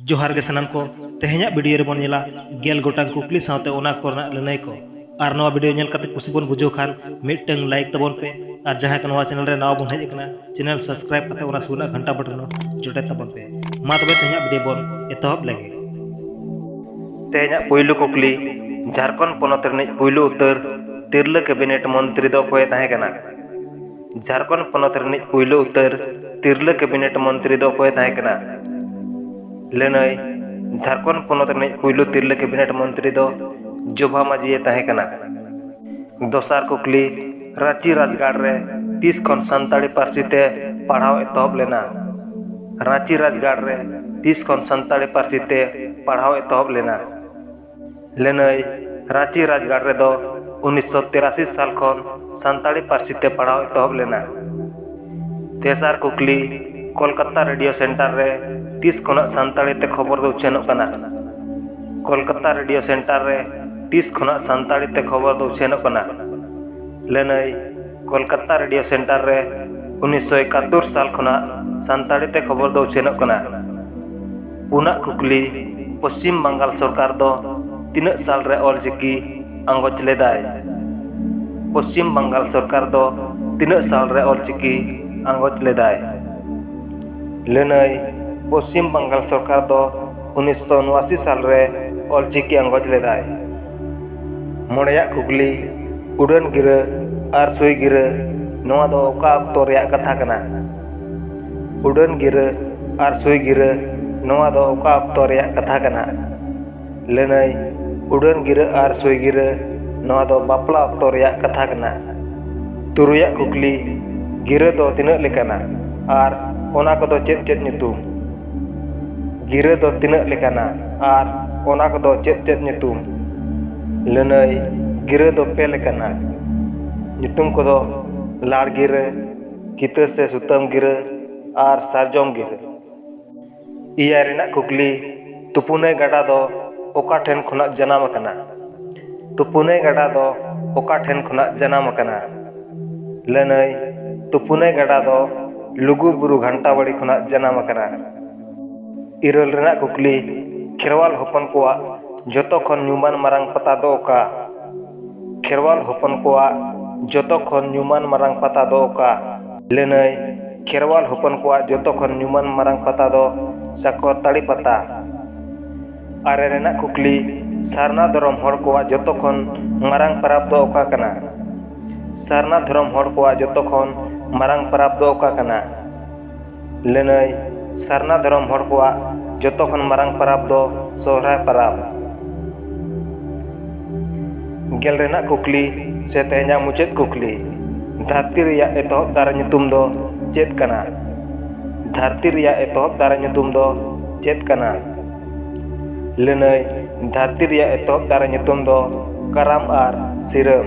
ᱡᱚᱦᱟᱨ ᱜᱮ ᱥᱟᱱᱟᱢ ᱠᱚ ᱛᱮᱦᱮᱧᱟᱜ ᱵᱷᱤᱰᱤᱭᱳ ᱨᱮᱵᱚᱱ ᱧᱮᱞᱟ ᱜᱮᱞ ᱜᱚᱴᱟᱝ ᱠᱩᱠᱞᱤ ᱥᱟᱶᱛᱮ ᱚᱱᱟ ᱠᱚᱨᱮᱱᱟᱜ ᱞᱟᱹᱱᱟᱹᱭ ᱠᱚ ᱟᱨ ᱱᱚᱣᱟ ᱵᱷᱤᱰᱤᱭᱳ ᱧᱮᱞ ᱠᱟᱛᱮ ᱠᱩᱥᱤ ᱵᱚᱱ ᱵᱩᱡᱷᱟᱹᱣ ᱠᱷᱟᱱ ᱢᱤᱫᱴᱟᱝ ᱞᱟᱭᱤᱠ ᱛᱟᱵᱚᱱ ᱯᱮ ᱟᱨ ᱡᱟᱦᱟᱸᱭ ᱠᱚ ᱱᱚᱣᱟ ᱪᱮᱱᱮᱞ ᱨᱮ ᱱᱟᱣᱟ ᱵᱚᱱ ᱦᱮᱡ ᱟᱠᱟᱱᱟ ᱪᱮᱱᱮᱞ ᱥᱟᱵᱥᱠᱨᱟᱭᱤᱵ ᱠᱟᱛᱮ ᱚᱱᱟ ᱥᱩᱨ ᱨᱮᱱᱟᱜ ᱜᱷᱟᱱᱴᱟ ᱵᱚᱴᱚᱱ ᱡᱚᱴᱮᱫ ᱛᱟᱵᱚᱱ ᱯᱮ ᱢᱟ ᱛᱚᱵᱮ ᱛᱮᱦᱮᱧᱟᱜ ᱵᱷᱤᱰᱤᱭᱳ ᱵᱚᱱ ᱮᱛᱚᱦᱚᱵ ᱞᱮᱜᱮ ᱛᱮᱦᱮᱧᱟᱜ ᱯᱩᱭᱞᱩ ᱠᱩᱠᱞᱤ ᱡᱷᱟᱨᱠᱷᱚᱸᱰ ᱯᱚᱱᱚᱛ ᱨᱤᱱᱤᱡ ᱯᱩᱭᱞᱩ ᱩᱛᱟᱹᱨ ᱛᱤᱨᱞᱟᱹ ᱠᱮᱵᱤᱱᱮᱴ ᱢᱚᱱᱛᱨᱤ ᱫᱚ ᱚᱠᱚᱭᱮ ᱛᱟᱦᱮᱸ ᱠᱟᱱᱟ ᱡᱷᱟᱨᱠᱷᱚᱸᱰ ᱯᱚᱱᱚᱛ ᱨᱤᱱᱤᱡ ᱯᱩᱭᱞᱩ ᱩᱛᱟᱹᱨ ᱛᱤᱨᱞᱟᱹ ᱠᱮᱵᱤᱱᱮᱴ ᱢᱚᱱᱛᱨᱤ ᱫᱚ ᱚᱠᱚᱭᱮ ᱛᱟᱦᱮᱸ ᱠᱟᱱᱟ? ᱞᱟᱹᱱᱟᱹᱭ, ᱡᱷᱟᱨᱠᱷᱚᱸᱰ ᱯᱚᱱᱚᱛ ᱨᱤᱱᱤᱡ ᱯᱩᱭᱞᱩ ᱛᱤᱨᱞᱟᱹ ᱠᱮᱵᱤᱱᱮᱴ ᱢᱚᱱᱛᱨᱤ ᱫᱚ ᱡᱳᱵᱷᱟ ᱢᱟᱹᱡᱷᱤᱭᱮ ᱛᱟᱦᱮᱸ ᱠᱟᱱᱟ᱾ ᱫᱚᱥᱟᱨ ᱠᱩᱠᱞᱤ, ᱨᱟᱺᱪᱤ ᱨᱟᱡᱽᱜᱟᱲ ᱨᱮ ᱛᱤᱥ ᱠᱷᱚᱱ ᱥᱟᱱᱛᱟᱲᱤ ᱯᱟᱹᱨᱥᱤ ᱛᱮ ᱯᱟᱲᱦᱟᱣ ᱮᱛᱚᱦᱚᱵ ᱞᱮᱱᱟ? ᱨᱟᱺᱪᱤ ᱨᱟᱡᱽᱜᱟᱲ ᱨᱮ ᱛᱤᱥ ᱠᱷᱚᱱ ᱥᱟᱱᱛᱟᱲᱤ ᱯᱟᱹᱨᱥᱤ ᱛᱮ ᱯᱟᱲᱦᱟᱣ ᱮᱛᱚᱦᱚᱵ ᱞᱮᱱᱟ? ᱞᱟᱹᱱᱟᱹᱭ ᱨᱟᱺᱪᱤ ᱨᱟᱡᱽᱜᱟᱲ ᱨᱮᱫᱚ ᱩᱱᱤᱥᱥᱚ ᱛᱤᱨᱟᱥᱤ ᱥᱟᱞ ᱠᱷᱚᱱ ᱥᱟᱱᱛᱟᱲᱤ ᱯᱟᱹᱨᱥᱤ ᱛᱮ ᱯᱟᱲᱦᱟᱣ ᱮᱛᱚᱦᱚᱵ ᱞᱮᱱᱟ᱾ ᱛᱮᱥᱟᱨ ᱠᱩᱠᱞᱤ, ᱠᱚᱞᱠᱟᱛᱟ ᱨᱮᱰᱤᱭᱳ ᱥᱮᱱᱴᱟᱨ ᱨᱮ ᱛᱤᱥ ᱠᱷᱚᱱᱟᱜ ᱥᱟᱱᱛᱟᱲᱤ ᱛᱮ ᱠᱷᱚᱵᱚᱨ ᱫᱚ ᱩᱪᱷᱟᱹᱱᱚᱜ ᱠᱟᱱᱟ? ᱠᱚᱞᱠᱟᱛᱟ ᱨᱮᱰᱤᱭᱳ ᱥᱮᱱᱴᱟᱨ ᱨᱮ ᱛᱤᱥ ᱠᱷᱚᱱᱟᱜ ᱥᱟᱱᱛᱟᱲᱤ ᱛᱮ ᱠᱷᱚᱵᱚᱨ ᱫᱚ ᱩᱪᱷᱟᱹᱱᱚᱜ ᱠᱟᱱᱟ? ᱞᱟᱹᱱᱟᱹᱭ ᱠᱚᱞᱠᱟᱛᱟ ᱨᱮᱰᱤᱭᱳ ᱥᱮᱱᱴᱟᱨ ᱨᱮ ᱩᱱᱤᱥᱥᱚ ᱮᱠᱟᱛᱛᱳᱨ ᱥᱟᱞ ᱠᱷᱚᱱᱟᱜ ᱥᱟᱱᱛᱟᱲᱤ ᱛᱮ ᱠᱷᱚᱵᱚᱨ ᱫᱚ ᱩᱪᱷᱟᱹᱱᱚᱜ ᱠᱟᱱᱟ᱾ ᱯᱩᱱᱟᱜ ᱠᱩᱠᱞᱤ, ᱯᱚᱪᱷᱤᱢ ᱵᱟᱝᱜᱟᱞ ᱥᱚᱨᱠᱟᱨ ᱫᱚ ᱛᱤᱱᱟᱹᱜ ᱥᱟᱞ ᱨᱮ ᱚᱞᱪᱤᱠᱤ ᱟᱸᱜᱚᱪ ᱞᱮᱫᱟᱭ? ᱯᱚᱪᱷᱤᱢ ᱵᱟᱝᱜᱟᱞ ᱥᱚᱨᱠᱟᱨ ᱫᱚ ᱛᱤᱱᱟᱹᱜ ᱥᱟᱞ ᱨᱮ ᱚᱞᱪᱤᱠᱤ ᱟᱸᱜᱚᱪ ᱞᱮᱫᱟᱭ? ᱞᱟᱹᱱᱟᱹᱭ, ᱯᱚᱪᱷᱤᱢ ᱵᱟᱝᱜᱟᱞ ᱥᱚᱨᱠᱟᱨ ᱫᱚ ᱩᱱᱤᱥ ᱥᱚ ᱩᱱᱩᱟᱥᱤ ᱥᱟᱞ ᱨᱮ ᱚᱞᱪᱤᱠᱤ ᱟᱸᱜᱚᱪ ᱞᱮᱫᱟᱭ᱾ ᱢᱚᱬᱮᱭᱟᱜ ᱠᱩᱠᱞᱤ, ᱩᱰᱟᱹᱱ ᱜᱤᱨᱟᱹ ᱟᱨ ᱥᱩᱭ ᱜᱤᱨᱟᱹ ᱱᱚᱣᱟ ᱫᱚ ᱚᱠᱟ ᱚᱠᱛᱚ ᱨᱮᱭᱟᱜ ᱠᱟᱛᱷᱟ ᱠᱟᱱᱟ? ᱩᱰᱟᱹᱱ ᱜᱤᱨᱟᱹ ᱟᱨ ᱥᱩᱭ ᱜᱤᱨᱟᱹ ᱱᱚᱣᱟ ᱫᱚ ᱚᱠᱟ ᱚᱠᱛᱚ ᱨᱮᱭᱟᱜ ᱠᱟᱛᱷᱟ ᱠᱟᱱᱟ ᱞᱟᱹᱱᱟᱹᱭ ᱩᱰᱟᱹᱱ ᱜᱤᱨᱟᱹ ᱟᱨ ᱥᱩᱭ ᱜᱤᱨᱟᱹ ᱱᱚᱣᱟ ᱫᱚ ᱵᱟᱯᱞᱟ ᱚᱠᱛᱚ ᱨᱮᱭᱟᱜ ᱠᱟᱛᱷᱟ ᱠᱟᱱᱟ ᱛᱩᱨᱩᱭᱟᱜ ᱠᱩᱠᱞᱤ ᱜᱤᱨᱟᱹ ᱫᱚ ᱛᱤᱱᱟᱹᱜ ᱞᱮᱠᱟᱱᱟ ᱟᱨ ᱚᱱᱟ ᱠᱚᱫᱚ ᱪᱮᱫ ᱪᱮᱫ ᱧᱩᱛᱩᱢ ᱜᱤᱨᱟᱹ ᱫᱚ ᱛᱤᱱᱟᱹᱜ ᱞᱮᱠᱟᱱᱟ ᱟᱨ ᱚᱱᱟ ᱠᱚᱫᱚ ᱪᱮᱫ ᱪᱮᱫ ᱧᱩᱛᱩᱢ ᱞᱟᱹᱱᱟᱹᱭ ᱜᱤᱨᱟᱹ ᱫᱚ ᱯᱮ ᱞᱮᱠᱟᱱᱟ ᱧᱩᱛᱩᱢ ᱠᱚᱫᱚ ᱞᱟᱲ ᱜᱤᱨᱟᱹ ᱠᱤᱛᱟᱹ ᱥᱮ ᱥᱩᱛᱟᱹᱢ ᱜᱤᱨᱟᱹ ᱟᱨ ᱥᱟᱨᱡᱚᱢ ᱜᱤᱨᱟᱹ᱾ ᱮᱭᱟᱭ ᱨᱮᱱᱟᱜ ᱠᱩᱠᱞᱤ, ᱛᱩᱯᱩᱱᱟᱹᱭ ᱜᱟᱰᱟ ᱫᱚ ᱚᱠᱟ ᱴᱷᱮᱱ ᱠᱷᱚᱱᱟᱜ ᱡᱟᱱᱟᱢ ᱟᱠᱟᱱᱟ? ᱛᱩᱯᱩᱱᱟᱹᱭ ᱜᱟᱰᱟ ᱫᱚ ᱚᱠᱟ ᱴᱷᱮᱱ ᱠᱷᱚᱱᱟᱜ ᱡᱟᱱᱟᱢ ᱟᱠᱟᱱᱟ? ᱞᱟᱹᱱᱟᱹᱭ, ᱛᱩᱯᱩᱱᱟᱹᱭ ᱜᱟᱰᱟ ᱫᱚ ᱞᱩᱜᱩ ᱵᱩᱨᱩ ᱜᱷᱟᱱᱴᱟᱵᱟᱲᱤ ᱠᱷᱚᱱᱟᱜ ᱡᱟᱱᱟᱢ ᱟᱠᱟᱱᱟ᱾ ᱤᱨᱟᱹᱞ ᱨᱮᱱᱟᱜ ᱠᱩᱠᱞᱤ, ᱠᱷᱮᱨᱣᱟᱞ ᱦᱚᱯᱚᱱ ᱠᱚᱣᱟᱜ ᱡᱚᱛᱚ ᱠᱷᱚᱱ ᱧᱩᱢᱟᱱ ᱢᱟᱨᱟᱝ ᱯᱟᱛᱟ ᱫᱚ ᱚᱠᱟ? ᱠᱷᱮᱨᱣᱟᱞ ᱦᱚᱯᱚᱱ ᱠᱚᱣᱟᱜ ᱡᱚᱛᱚ ᱠᱷᱚᱱ ᱧᱩᱢᱟᱱ ᱢᱟᱨᱟᱝ ᱯᱟᱛᱟ ᱫᱚ ᱚᱠᱟ? ᱞᱟᱹᱱᱟᱹᱭ, ᱠᱷᱮᱨᱣᱟᱞ ᱦᱚᱯᱚᱱ ᱠᱚᱣᱟᱜ ᱡᱚᱛᱚ ᱠᱷᱚᱱ ᱧᱩᱢᱟᱱ ᱢᱟᱨᱟᱝ ᱯᱟᱛᱟ ᱫᱚ ᱥᱟᱠᱚᱨᱛᱟᱲᱤ ᱯᱟᱛᱟ᱾ ᱟᱨᱮ ᱨᱮᱱᱟᱜ ᱠᱩᱠᱞᱤ, ᱥᱟᱨᱱᱟ ᱫᱷᱚᱨᱚᱢ ᱦᱚᱲ ᱠᱚᱣᱟᱜ ᱡᱚᱛᱚ ᱠᱷᱚᱱ ᱢᱟᱨᱟᱝ ᱯᱟᱨᱟᱵᱽ ᱫᱚ ᱚᱠᱟ ᱠᱟᱱᱟ? ᱥᱟᱨᱱᱟ ᱫᱷᱚᱨᱚᱢ ᱦᱚᱲ ᱠᱚᱣᱟᱜ ᱡᱚᱛᱚ ᱠᱷᱚᱱ ᱢᱟᱨᱟᱝ ᱯᱟᱨᱟᱵᱽ ᱫᱚ ᱚᱠᱟ ᱠᱟᱱᱟ? ᱞᱟᱹᱱᱟᱹᱭ ᱥᱟᱨᱱᱟ ᱫᱷᱚᱨᱚᱢ ᱦᱚᱲ ᱠᱚᱣᱟᱜ ᱡᱚᱛᱚ ᱠᱷᱚᱱ ᱢᱟᱨᱟᱝ ᱯᱟᱨᱟᱵᱽ ᱫᱚ ᱥᱚᱦᱨᱟᱭ ᱯᱟᱨᱟᱵᱽ ᱜᱮᱞ ᱨᱮᱱᱟᱜ ᱠᱩᱠᱞᱤ ᱥᱮ ᱛᱮᱦᱮᱧᱟᱜ ᱢᱩᱪᱟᱹᱫ ᱠᱩᱠᱞᱤ ᱫᱷᱟᱹᱨᱛᱤ ᱨᱮᱭᱟᱜ ᱮᱛᱚᱦᱚᱵ ᱫᱟᱨᱮ ᱧᱩᱛᱩᱢ ᱫᱚ ᱪᱮᱫ ᱠᱟᱱᱟ ᱫᱷᱟᱹᱨᱛᱤ ᱨᱮᱭᱟᱜ ᱮᱛᱚᱦᱚᱵ ᱫᱟᱨᱮ ᱧᱩᱛᱩᱢ ᱫᱚ ᱪᱮᱫ ᱠᱟᱱᱟ ᱞᱟᱹᱱᱟᱹᱭ ᱫᱷᱟᱹᱨᱛᱤ ᱨᱮᱭᱟᱜ ᱮᱛᱚᱦᱚᱵ ᱫᱟᱨᱮ ᱧᱩᱛᱩᱢ ᱫᱚ ᱠᱟᱨᱟᱢ ᱟᱨ ᱥᱤᱨᱟᱹᱢ